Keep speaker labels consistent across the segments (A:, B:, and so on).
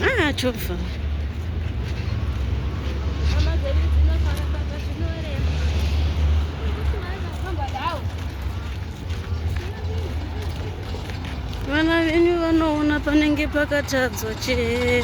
A: Ah, chova. vana venyu vanoona panenge pakatadzwa chete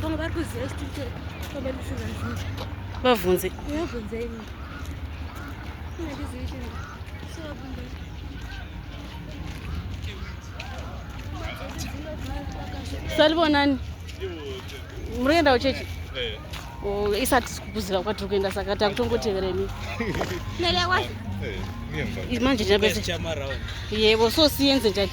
A: vamwe vari kuziva chitiri chombe kusvira zvinhu vabvunze vabvunze imi salivonani muri kuendawo chechi eh. oh, isati sikukuziva kwatiri kuenda saka takutongotevera imi eh, manje ndinapese yebo so siyenze njani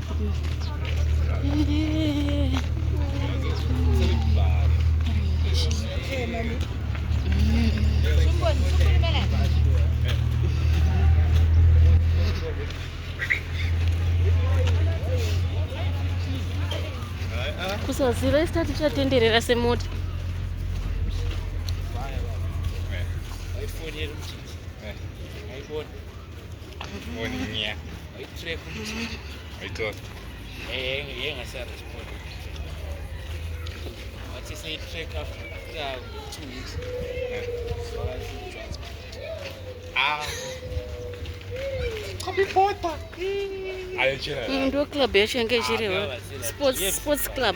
A: kusaziva isi tati chatenderera semota Ndo club yacho yange ichiriwo sports club.